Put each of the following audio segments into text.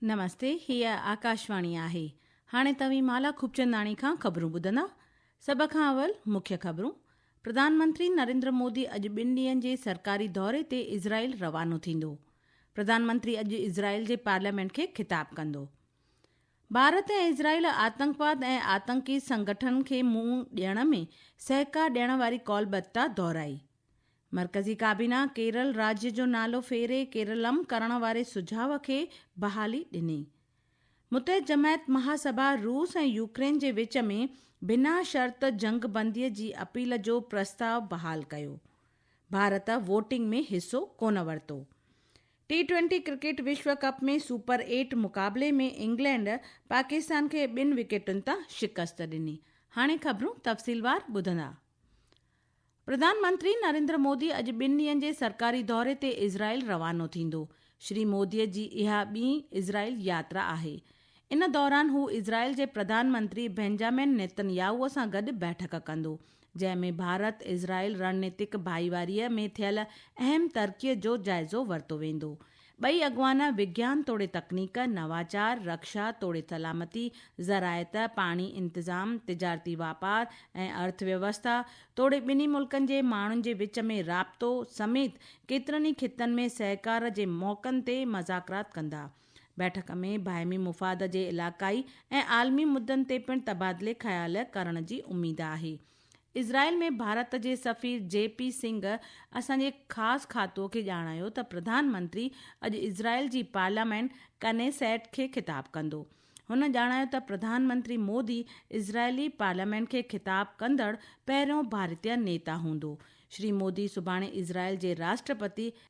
نمستي هي آڪاشواڻي آهي هاڻي توهين مالا خوبچنداڻي کان خبرون ٻڌندا سڀ کان اول مکيه خبرون پرڌانمنتري نريندر مودي اڄ ٻن ڏينهن جي سرڪاري دوري تي اسرائيل روانو ٿيندو پرڌانمنتري اڄ اسرائيل جي پارليامينٽ کي خطاب ڪندو ڀارت ۽ اسرائيل آتنڪواد ۽ آتنڪي سنگٺنن کي منهن ڏيڻ ۾ سهڪار ڏيڻ واري قول بتا دهرائي. مرڪزي ڪابينا ڪيرل راڄ جو نالو ڦيري ڪيرلم ڪرڻ واري سجهاء کي بحالي ڏني. متحد جماعت مهاسڀا روس ۽ يوڪرين جي وچ ۾ بنا شرط جنگ بندي جي اپيل جو پرستاء بحال ڪيو. ڀارت ووٽنگ ۾ حصو ڪونه ورتو. ٽي ٽوئنٽي ڪرڪيٽ وشو ڪپ ۾ سپر ايٽ مقابلي ۾ انگلينڊ پاڪستان کي ٻن وڪيٽن تان شڪست ڏني. هاڻي خبرون تفصيلوار ٻڌندا. پرڌان منتري نريندر مودي اڄ ٻن ڏينهن جي سرڪاري دوري تي اسرائيل روانو ٿيندو. شري مودي جي اها ٻين اسرائيل ياترا آهي. ان دوران هو اسرائيل جي پرڌان منتري بينجامن نيتن ياهوء سان گڏ بيٺڪ ڪندو، جنهن ۾ ڀارت اسرائيل رڻنيتڪ ڀائيواريء ۾ ٿيل اهم ترقيء جو جائزو ورتو ويندو. ٻئي اڳواڻ وگيان توڙي تڪنيڪ، نواچار، رڪشا توڙي سلامتي، زراعت، پاڻي انتظام، تجارتي واپار ۽ ارٿ ويوسٿا توڙي ٻنهي ملڪن جي ماڻهن جي وچ ۾ رابطو سميت ڪيترن ئي خطن ۾ سهڪار جي موقعن تي مذاڪرات ڪندا. بيٺڪ ۾ باهمي مفاد جي علاقائي ۽ عالمي مدن تي پڻ تبادلي خيال ڪرڻ جي اميد آهي. اسرائيل ۾ ڀارت جي سفير جي پي سنگهه اسان جي خاص کاتو کي ڄاڻايو ته پرڌان منتري اڄ اسرائيل جي پارليامينٽ ڪنيسيٽ کي خطاب ڪندو. هن ڄاڻايو ته پرڌان منتري مودي اسرائيلي پارليامينٽ کي خطاب ڪندڙ پهريون ڀارتيه نيتا هوندو. شري مودي سڀاڻي اسرائيل جي راشٽرپتي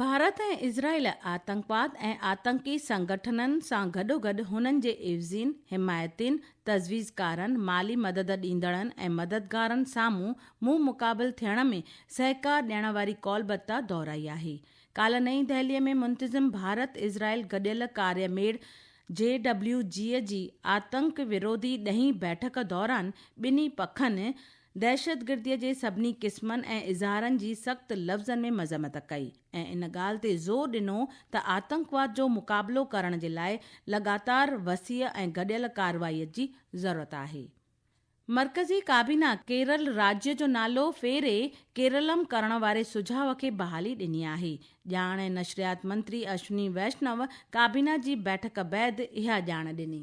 ڀارت ۽ اسرائيل آتنڪواد ۽ آتنڪي سنگٺنن سان گڏوگڏ هنن جي عيوضين، حمايتين، تجويزڪارن، مالي مدد ڏيندڙن ۽ مددگارن سامهون منهن مقابل ٿيڻ ۾ سهڪار ڏيڻ واري ڪولبتا دهرائي آهي. ڪالهه نئين دهلي ۾ منتظم ڀارت اسرائيل گڏيل ڪاري ميڙ، جي ڊبليو جي، جي آتنڪ وروڌي ڏهين بيٺڪ دوران ٻنهي پکن دهشتگرديء جي سڀني قسمن ۽ اظهارن جي سخت لفظن ۾ مذمت ڪئي ۽ ان ڳالهه تي زور ڏنو ته آتنڪواد جو مقابلو ڪرڻ جي لاء لڳاتار وسيع ۽ گڏيل ڪارروائيء جي ضرورت آهي. مرڪزي ڪابينا ڪيرل راجيء جو نالو ڦيري ڪيرلم ڪرڻ واري سجهاء کي بحالي ڏني آهي. ڄاڻ ۽ نشريات منتري اشوني ويشنو ڪابينا جي بيٺڪ بعد اها ڄاڻ ڏني.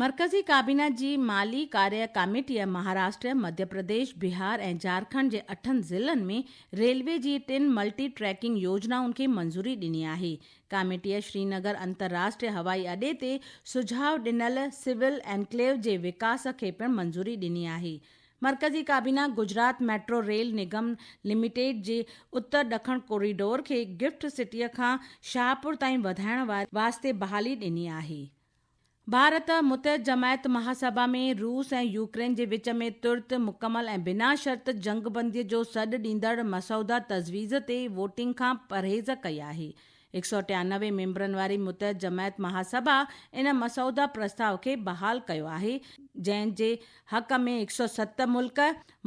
مرڪزي ڪابينا جي مالي ڪاريه ڪاميٽيء مهاراشٽر، مڌيه پرديش، بهار ۽ جهارکنڊ جي اٺن ضلعن ۾ ريلوي جي ٽن ملٽي ٽريڪنگ يوجنائن کي منظوري ڏني آهي. ڪاميٽيء شرينگر انترراشٽريه هوائي اڏي تي سجهاء ڏنل سول انڪليو جي وڪاس کي پڻ منظوري ڏني آهي. مرڪزي ڪابينا Gujarat metro rail Nigam limited جي اتر ڏکڻ ڪوريڊور کي گفٽ سٽيء کان شاهپور تائين وڌائڻ واري واسطي بحالي ڏني آهي. ڀارت متحد جماعت مهاسڀا ۾ روس ۽ يوڪرين جي وچ ۾ ترت، مڪمل ۽ بنا شرط جنگ بندي جو سڏ ڏيندڙ مسوده تجويز تي ووٽنگ کان پرهيز ڪئي آهي. هڪ سؤ ٽيانوي ميمبرن واري متحد جماعت مهاسڀا ان مسوده پرستاء کي بحال ڪيو آهي جنهن جي حق ۾ هڪ سؤ ست ملڪ،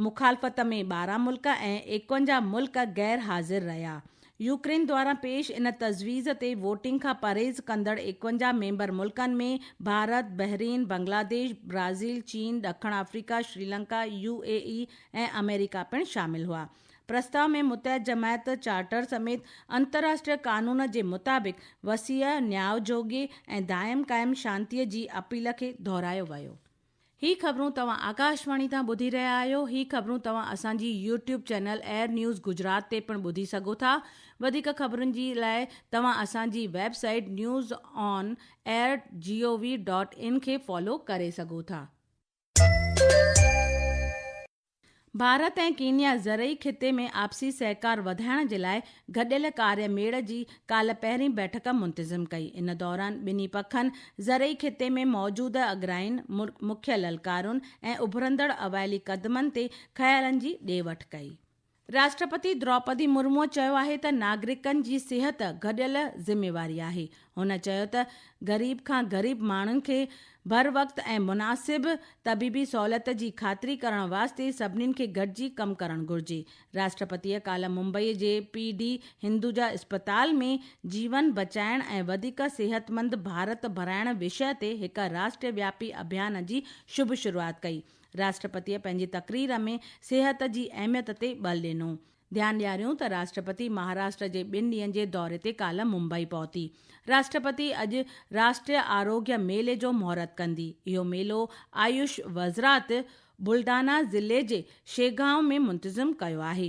مخالفت ۾ ٻارهن ملڪ ۽ ايڪونجاهه ملڪ غير حاضر رهيا يوڪرين دوران پيش ان تجويز تي ووٽنگ کان پرهيز ڪندڙ ايڪونجاهه ميمبر ملڪن ۾ ڀارت، بحرين، بنگلاديش، برازيل، چين، ڏکڻ Africa, Sri Lanka, U A E ۽ آمريڪا پڻ شامل هئا. پرستاء ۾ متحد جماعت چارٽر سميت انترراشٽريه قانون جي مطابق وسيع، نياء جوڳي ۽ دائم قائم شانتيء جي اپيل کي دهرايو ويو. هي خبرون توهان آڪاشواڻي تان ٻڌي رهيا آهيو. هي خبرون توهان اسان جي YouTube channel AIR news Gujarat تي پڻ ٻڌي سگهو ٿا. وڌيڪ خبرن جي لاء توهان اسان جي website news on air G O V dot in کي فالو ڪري سگهو ٿا. ڀارت ۽ ڪينيا زرعي خطي ۾ آپسي سهڪار وڌائڻ جي لاء گڏيل ڪاري ميڙ جي ڪالهه پهرين بيٺڪ منتظم ڪئي، ان دوران ٻنهي پکن زرعي خطي ۾ موجود اڳرائين، مکيه للڪارن ۽ اڀرندڙ اوائلي قدمن تي خيالن جي ڏي وٺ ڪئي. راشٽرپتي دروپدي مرموء چيو آهي ته ناگرڪن جي صحت گڏيل ذميواري آهي، هن چيو ته غريب کان غريب ماڻهن کي بروقت ۽ مناسب طبيبي سهولت جي خاطري ڪرڻ واسطي سڀني کي گڏجي ڪم ڪرڻ گهرجي، راشٽرپتيء ڪالهه ممبئي جي پي ڊي هندوجا اسپتال ۾ جيون بچائڻ ۽ وڌيڪ صحتمند ڀارت ڀرائڻ وشيه تي هڪ راشٽروياپي اڀيان جي شڀ شروعات ڪئي. راشٽرپتيء پنهنجي تقرير ۾ صحت جي اهميت تي ٻل ڏنو. ڌيان ڏياريون ته راشٽرپتي مهاراشٽر جي ٻن ڏينهن جي دوري تي ڪالهه ممبئي پهتي. راشٽرپتي اڄ راشٽريه آروگيه ميلي جو مهورت ڪندي. اهو ميلو آيوش وزرات بلڊانا ضلعي جي شيگانء ۾ منتظم ڪيو آهي.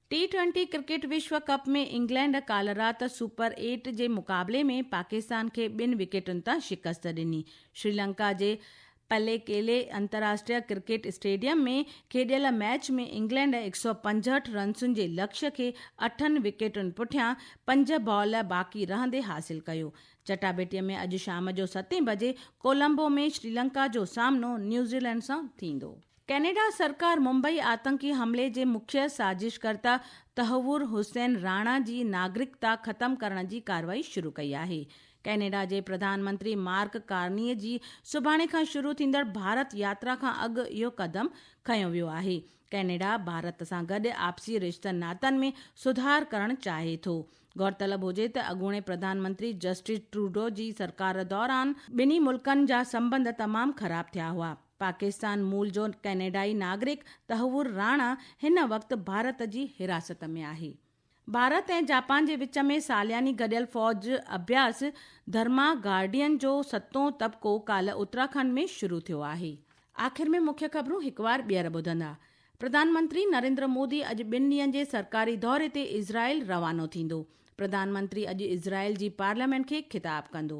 ٽي ٽوئنٽي ڪرڪيٽ وشو ڪپ ۾ انگلينڊ ڪالهه رات سپر ايٽ جي مقابلي ۾ پاڪستان کي ٻن وڪيٽن تان شڪست ڏني. شريلنڪا جي پليڪيلي انتراشٽريه ڪرڪيٽ اسٽيڊيم ۾ کيڏيل ميچ ۾ انگلينڊ هڪ سؤ پنجهٺ رنسن جي لڪش کي اٺن وڪيٽن پٺيان پنج بال باقي رهندي حاصل ڪيو. چٽاڀيٽي ۾ اڄ شام جو ستين بجي ڪولمبو ۾ شريلنڪا جو سامنو نيوزيلينڊ سان ٿيندو. ڪينيڊا سرڪار ممبئي آتنڪي حملي جي مکيه سازش ڪرتا تحور حسين راڻا جي ناگرڪتا ختم ڪرڻ جي ڪارروائي شروع ڪئي آهي. ڪينيڊا جي پرڌان منتري مارڪ ڪارني جي سڀاڻي کان شروع ٿيندڙ ڀارت ياترا کان اڳ اهو قدم کنيو ويو آهي. ڪينيڊا ڀارت سان گڏ آپسي رشتن ناتن ۾ سڌار ڪرڻ چاهي ٿو. غورطلب هجي ته اڳوڻي پرڌان منتري جسٽن ٽروڊو جي سرڪار دوران ٻنهي ملڪن جا سنٻنڌ تمام خراب ٿيا هئا. پاڪستان مول جو ڪئناڊائي ناگرڪ تحور راڻا هن وقت ڀارت جي حراست ۾ آهي. ڀارت ۽ جاپان جي وچ ۾ سالياني گڏيل فوج اڀياس ڌرما گارڊين جو ستون طبقو ڪالهه اتراکنڊ ۾ شروع ٿيو آهي. آخر ۾ مکيه خبرون هڪ وار ٻيهر ٻڌندا. پرڌان منتري نريندر مودي اڄ ٻن ڏينهن جي سرڪاري دوري تي اسرائيل روانو ٿيندو. پرڌان منتري اڄ اسرائيل جي پارليامينٽ کي خطاب ڪندو.